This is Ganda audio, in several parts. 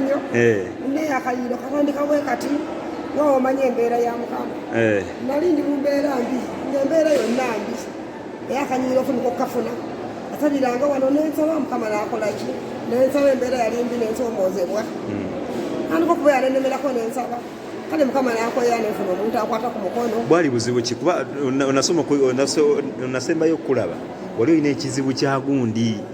nnyo eh. naye akayiro katandika bwe kati nawe omanya embeera ya mukama eh. nali ndi mu mbeera mbi ngaembeera yonna mbi naye akanyiro ofunika okukafuna asaliranga wano nensaba mukama nakolaki nensaba embeera yali mbi nensomoozebwa hmm. andika okuba yalenemerako nensaba kale mukama nakoya nefuna omuntu akwata ku mukono bwali buzibu ki kuba onasembayo okukulaba wali olina ekizibu kyagundi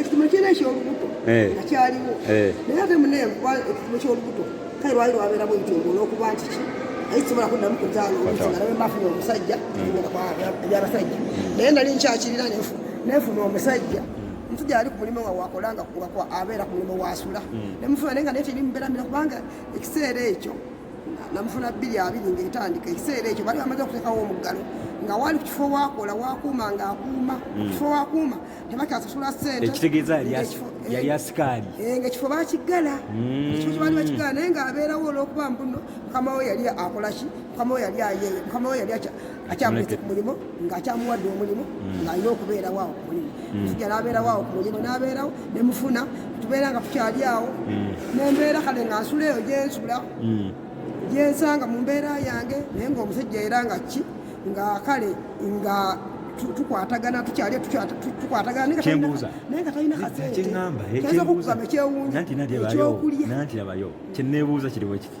ekipimo kyera ekyolubuto eh. nga kyaliwo eh. naye ate mune ekipimo kyolubuto kale lwali lwabeeramu ntungu olwokuba nti ki naye sisobola kuddamu kuzaala olusigalabemafuna omusajja hmm. ebyabasajja hmm. naye nali nkyakirira nefuna omusajja omusajja yali ku mulimu nga wakola nga abeera ku mulimu wasula hmm. nemufuna naye nga naye teri mubeera mira kubanga ekiseera ekyo namufuna bbiri abiri ngaetandika ekiseera ekyo bali bamaze okutekawo omuggalo nga wali kukifo wakola wakuuma nga akuuma hmm. kifo wakuuma tebakyasasula sente ekitegeeza yali eh, asikaali eh, nga ekifo bakiggala hmm. ekifo kyebali bakiggala naye nga abeerawo olwokuba mbuno mukamawo yali akolaki mukamawo yali ayeyo mukamawo yali akyamuleese ku mulimu ng'akyamuwadde omulimu mm. ng'alina okubeerawo awo ku mulimu mm. musajja n'abeerawo awo ku mulimu n'abeerawo ne mufuna tubeera nga tukyali awo mm. nembeera kale nga nsula eyo gyensula gyensanga mu mbeera yange naye ng'omusajja era nga ki nga kale nga tukwatagana tukyali tukwatagana naye nga talina kasente kyewunja ekyokulya kyeneebuuza kiriwo kiti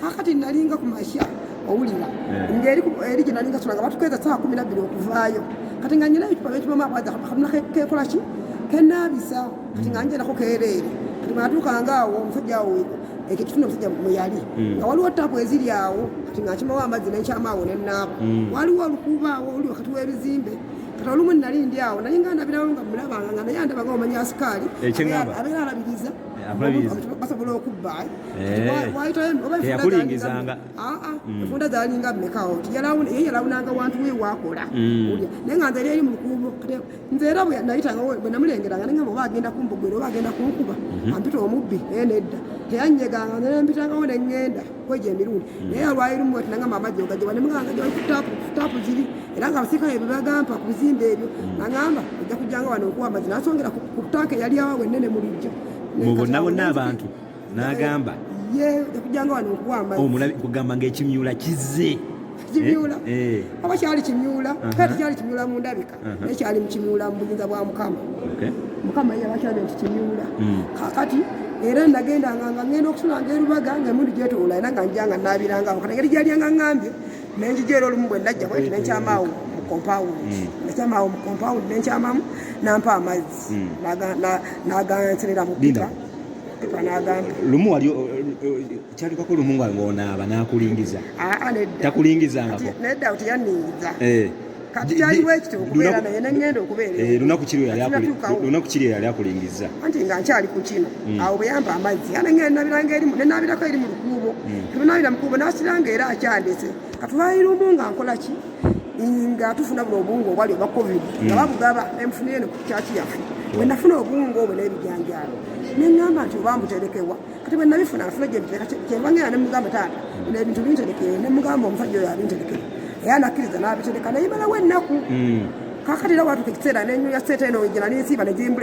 kakati nalinga ku makya owulira eh. ngeri gye nalinga sula nga batukeeza saa kumi nabbiri okuvaayo kati nga nyina ebicupa byekibama bwaza katunula kekola ki kenaabisa kati nga njenako keereere kati bwatuukanga awo omusajja awo ekyo ekitundu omusajja mweyali hmm. nga waliwo tapu eziri awo kati nga nkimawo amazzi nenkyama awo nenaabo hmm. waliwo olukuuba awo oli wakati w'ebizimbe kati olumu nali ndi awo naye nga ndabirawo nga mulabanga nga naye andabanga omanyi asikaali abeera alabiriza basobola okubba teyakulingizanga enfunda zalinga mekawo ye yalawunanga wantu we wakola naye nga nze eri mu lukuubo nze era nayitanga bwe namulengeranga naye nga oba agenda kumbugwera oba agenda kunkuba ampita omubbi naye nedda teyanyeganga nze nempitangawo ne ŋŋenda kwejo emirundi hmm. naye alwayo lumu ati nanga mama joga joga ne muganga joga kutapu tapu ziri era nga abasika ebyo bagampa ku bizimbe ebyo hmm. angamba ojja kujjanga wano okuwa amazzi nasongera ku tanka eyali awawe ennene mu lijjo mu bonna bonna abantu n'agamba ye ojja kujjanga wano okuwa amazzi omulabi kugamba ng'ekimyula kizze kimyula eh, eh. oba kyali kimyula kati kyali kimyula mu ndabika naye kyali mukimiwula mu buyinza bwa mukama mukama yabakirabe nti kimiwula hmm. kakati era nagendanga nga ngenda okusulanga erubaga nga emundu gyetoola era nga njanga nabirangawo kati engeri gyali anga ngambye nenjija era olumu bwe najja bwati nenkyamaawo mu compawundi hmm. nekyamaawo mu compawundi nenkyamamu nampa amazzi hmm. naganserera mu pipa pipa nagamba lumu wali kyatuukako lumu nga ng'onaaba n'akulingiza ah, ah, takulingizangako nedda kuti yanningiza eh. kati kyaliwo ekityo okubeera naye nengenda okubeeralunaku eh, kiri eyali akulingiza anti nga nkyali ku kino hmm. awo bweyamba amazzi anenabiranga erimu nenabirako eri mu lukuubo hmm. tebinabira mukuubo nasiranga era akyandese katwali lumu nga nkola ki nga tufuna buli obungu obwali obwa covid hmm. nga babugaba enfuna eno ku kyaki yaffe wenafuna obungu obwo n'ebijanjaalo neŋamba nti oba mbuterekewa kati bwe nabifuna nfuna gye biteeka kyenva ngera ne mugamba taata bino hmm. ebintu binterekeye ne mugamba omusajja oyo abinterekeye era nakkiriza n'abitereka naye malawo ennaku hmm. kakati era watuka ekiseera nenyo ya seeta eno gye nali nsiiba ne gimbula